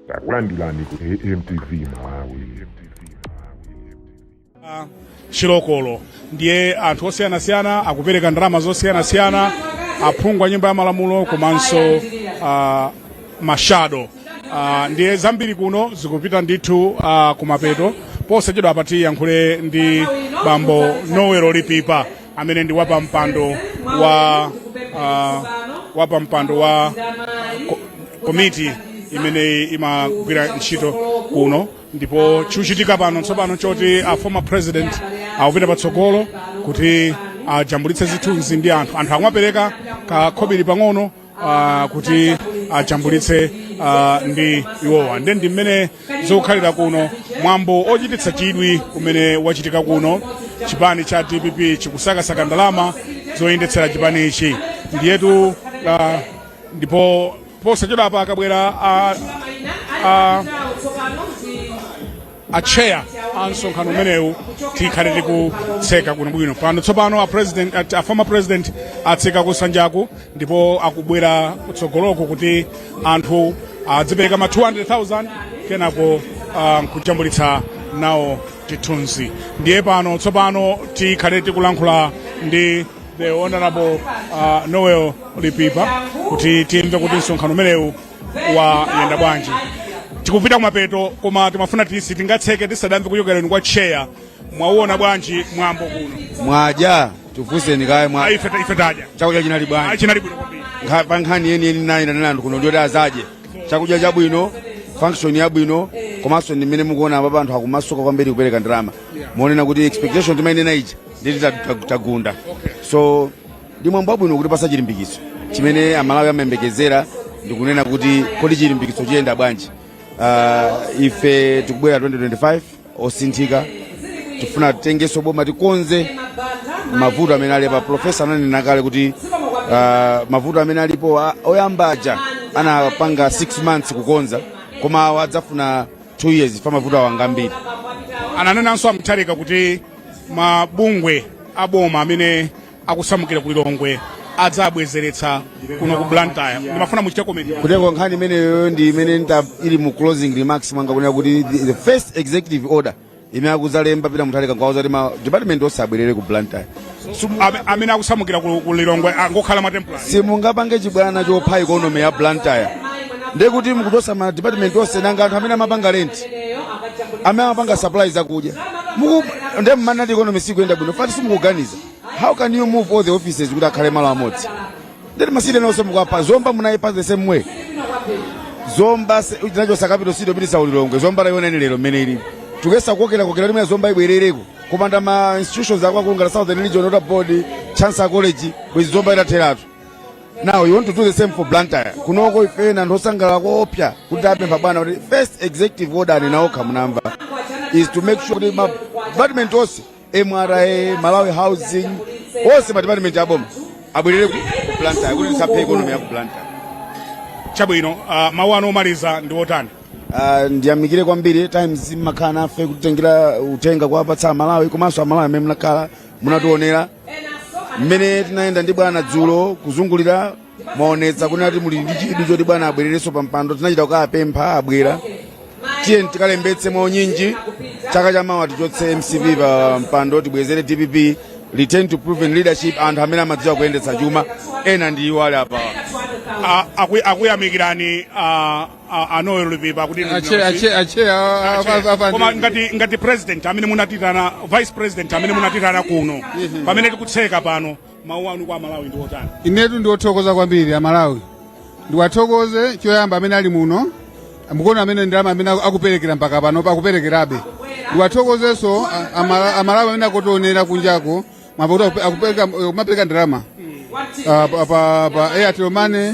takulandirani ku amtv malawi chilokolo ndiye anthu osiyanasiyana akupereka ndalama zosiyanasiyana aphungu a nyumba ya malamulo komanso ah, mashado Ah, ndiye zambiri kuno zikupita ndithu ah, kumapeto posachedwa apa tiyankhule ndi bambo noel lipipa amene ndi wapampando wa uh, wapampando wa ko- komiti imene imagwira ntchito kuno ndipo chikuchitika pano tsopano nchoti a former president akupita patsogolo kuti ajambulitse zithunzi ndi anthu anthu akumapereka kakhobiri pang'ono uh, kuti ajambulitse uh, ndi iwowa nde ndi mmene zikukhalira kuno mwambo ochititsa chidwi umene ukuchitika kuno chipani cha dpp chikusakasaka ndalama zoyendetsera chipani ichi ndiyetu uh, ndipo posachedwapa akabwera uh, uh, a chair a msonkhano umenewu tikhale tikutseka bwinobwino pano tsopano a president a, a former president atseka kusanjaku ndipo akubwera kutsogoloko kuti anthu adzipereka ma 200,000 kenako uh, nkujambulitsa nawo chithunzi ndiye pano tsopano tikhale tikulankhula ndi the honorable uh, noel lipipa kuti timve kuti msonkhano umenewu wayenda bwanji tikupita kumapeto koma timafuna tisi tingatseke tisadamve kuchokera kwa chair mwauona bwanji mwambo kuno mwadya tikufunseni kaye mwa Ah, ife ta- ife tadya chakudya chinali bwanji chinali bwino kwambiri Nkha- pa nkhani yeni yeni nayitanira anthu kuno ndi yoti adzadye chakudya chabwino function yabwino komanso ndi mmene mukuona apapa anthu akumasuka kwambiri kupereka ndalama muonena kuti expectation timainena ija nditi tagunda so Ndi mwambo wabwino kutipatsa chilimbikitso chimene Amalawi amayembekezera ndi kunena kuti kodi chilimbikitso chiyenda bwanji. Uh, ife tikubwera 2025 osinthika tifuna titengenso boma tikonze mavuto amene alipa profesa ananena kale kuti uh, mavuto amene alipo a- oyamba aja anapanga 6 months kukonza koma awa adzafuna 2 years pa mavuto awonga ambiri ananenanso a Mutharika kuti mabungwe aboma amene akusamukira ku lilongwe adzabwezeretsa kuno ku blantyre ndimafuna muchite komenti komanso nkhani imeneyo ndi imene ili mu closing remarks mwanga kunena kuti the, the first executive order imene akudzalemba Peter Mutharika nkuwauza kuti ma department onse abwerere ku blantyre Ame- amene akusamukira ku ku lilongwe angokhala ma temporary simungapange chibwana chopha ikonomi ya blantyre ndiye kuti mukuchotsa ma department onse nanga anthu amene amapanga rent amene amapanga supply zakudya Muku- ndiye mumanena kuti ikonomi sikuyenda bwino ifa nti simukuganiza how can you move all the offices kuti akhale malo amodzi ndiye kuti ma city enawo onse mukuwapha zomba munayipa the same way zomba se- tinachotsa capital city kupititsa ku lilongwe zomba tayionani lero mmene ili tikuyesa kukokerakokera mmene zomba ibwerereko kupanda ma institutions akuluakulu ngati southern region water board chancellor college bwenzi zomba itatheratu now you want to do the same for blantyre kunoko ife ndi anthu osangalala koopsa kuti apempha bwana kuti first executive order anena okha munamva is to make sure kuti ma department onse mra malawi housing onse madipatimenti aboma abwerere ku ku blantyre kuti tisaphe economy ya ku blantyre chabwino uh, mawu anu omaliza ndi otani Ah, ndiyamikire kwambiri times mmakhala nafe kutitengera uthenga kuwapatsa amalawi komanso amalawi amene munakhala munatiwonera mmene tinayenda ndi bwana dzulo kuzungulira mwaonetsa kunena kuti muli ndi chidwi choti bwana abwererenso pa mpando tinachita kukapempha abwera tiyeni tikalembetse mwaunyinji chaka cha mawa tichotse mcp pa mpando tibwezere dpp return to proven leadership anthu amene amadziwa kuyendetsa chuma ena ndi iwo ali apawa A- aku- akuyamikirani ah, ah, a noel lipipa kuti inu ache ndinonse. ache ache koma ngati ngati president amene munatitana vice president amene munatitana kuno pamene tikutseka pano mawu anu kwa amalawi ndi otani inetu ndiwathokoze kwambiri amalawi ndiwathokoze choyamba amene ali muno mukuona amene ndalama amene akuperekera mpaka pano akuperekerabe ndiwathokozenso a- amala- amalawi amene akutionera kunjako mavuto akupereka kumapereka ndalama Ah, pa- pa pa airtel money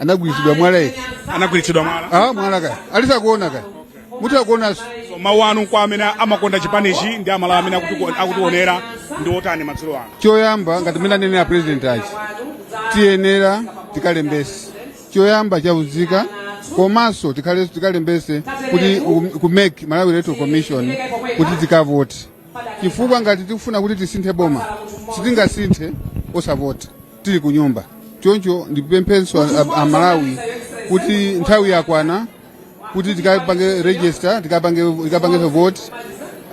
anagwiritsidwa mwala eti anagwiritsidwa mwala ah mwala kaya alisakuona kaya muti akuonanso So, mawu anu kwa amene amakonda chipanichi ndi amalawi amene akuti- akutiwonera ndi otani madzulo ano choyamba ngati mene anenera president achi tiyenera tikalembetse choyamba cha unzika komanso tikhale- tikalembetse kuti um, ku mec malawi electoral commission kuti tikavote chifukwa ngati tikufuna kuti tisinthe boma sitingasinthe osavota tili ku nyumba choncho ndipemphenso a- a- amalawi kuti nthawi yakwana kuti tikapange register tikapange tikapange vote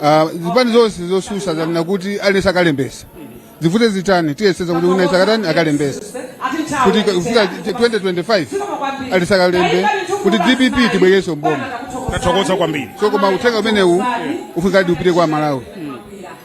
Ah, zipani zonse zotsutsa zanena kuti aliyense akalembetse zivute zitani tiyesetsa kuti wina asakatani akalembetse kuti ka- kufika 2025 aliyense akalembe kuti dpp tibwezerenso mboma tathokoza kwambiri so koma uthenga umenewu ufunikadi upite kwa amalawi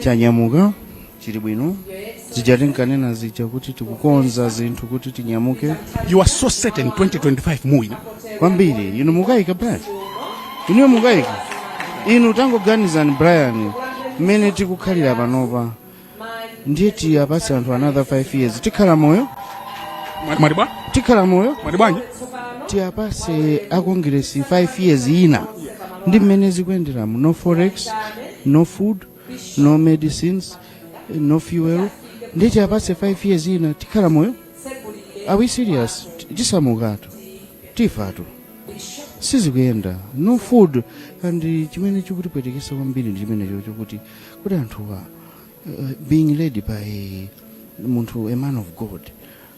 chanyamuka chili bwino zija tinkanena zija kuti tikukonza zinthu kuti tinyamuke you are so certain 2025 muwina kwambiri inu mukayika brian inuyo mukayika inu tangoganizani brian mmene tikukhalira panopa ndiye tiwapatse anthu another 5 years tikhala moyo Mwa- mwati bwa tikhala moyo mwati bwanji tiwapatse akongiresi 5 years ina ndi mmene zikuyenderamo no forex no food no medicines no fuel ndiye tiyapatse 5 years ina tikhala moyo are we serious T- tisamukatu tifatu sizikuyenda no food and eh, chimene chikutipwetekesa kwambiri ndi chimenecho chokuti kuti anthuwa uh, being led by munthu a man of god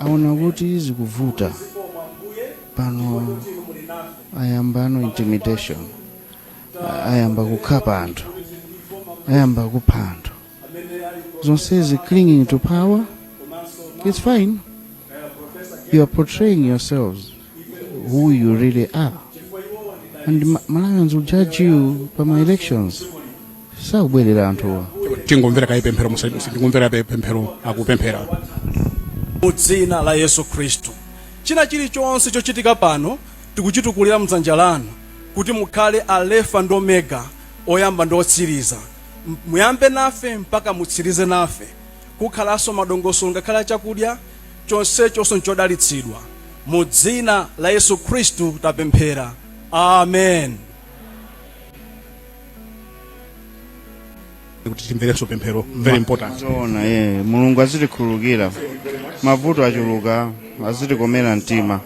aona kuti zikuvuta pano ayambano intimidation A- ayamba kukhapa anthu ayamba kupha anthu zonsezi clinging to power it's fine you are portraying yourselves who you really are and Ma- malawians will judge you pa ma elections sakubwerera anthuwa tingomvera kaye pemphero musa- musa- tingomvera kaye pemphero akupemphera mu dzina la yesu khristu china chilichonse chochitika pano tikuchitukulira mdzanja lanu kuti mukhale alefa ndi omega oyamba ndi otsiriza M- muyambe nafe mpaka mutsirize nafe kukhalanso madongosolo ngakhale a chakudya chonsechonso n'chodalitsidwa. Mu dzina la Yesu Khristu tapemphera. Amen. kuti timverenso pemphero very important zoona ye mulungu azitikhululukira mavuto achuluka azitikomera mtima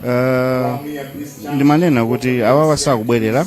Eh, ndimanena kuti awawa sakubwerera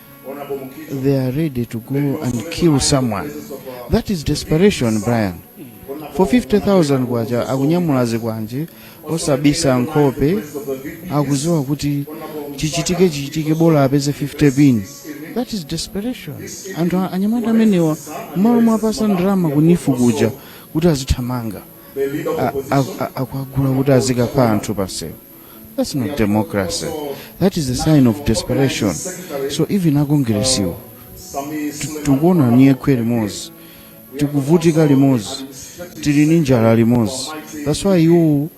they are ready to go and kill someone that is desperation brian for 50000 kwacha akunyamula zikwanje osabisa nkhope akuziwa kuti chichitike chichitike bola apeze 50 pin that is desperation anthu a- anyamata amenewa mmalo mwapasa ndalama ku NEEF kuja kuti azithamanga a- a- a- akuagula kuti azikapha anthu pansewu That's not democracy. That is a sign of desperation. So even akongiresiwo ti- tikuona nyekhwe limodzi tikuvutika limodzi tili ni njala limodzi that's why iwo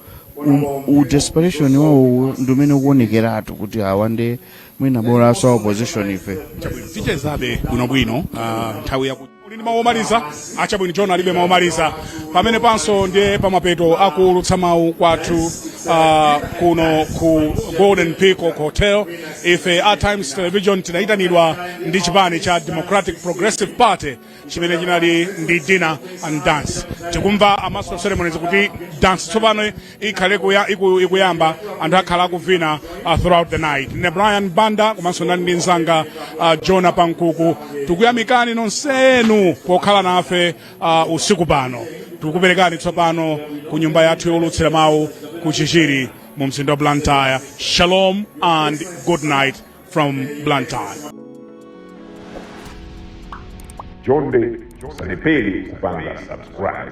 u-desperation wawo ndi umene ukuonekeratu kuti awa nde mwina bolaso a opposition ife tichezabe bwinobwino ah, nthawi yaku uli ndi mawu omaliza achabwino john alibe mawu omaliza pamene panso ndiye pamapeto akuulutsa mawu kwathu uh, kuno ku golden peacock hotel ife a times television tinayitanidwa ndi chipani cha democratic progressive party chimene chinali ndi dinner and dance tikumva a master of ceremonies kuti dance tsopano ikhale kuya- iku- ikuyamba anthu akhala akuvina uh, throughout the night ne brian banda komanso ndinali ndi mzanga uh, jona pankuku tikuyamikani nonsenu pokhala nafe uh, usiku pano tikuperekani tsopano ku nyumba yathu yowulutsira mawu ku chichiri mu mzinda wa blantyre shalom and good night from blantyre Chonde osaiwala kupanga subscribe.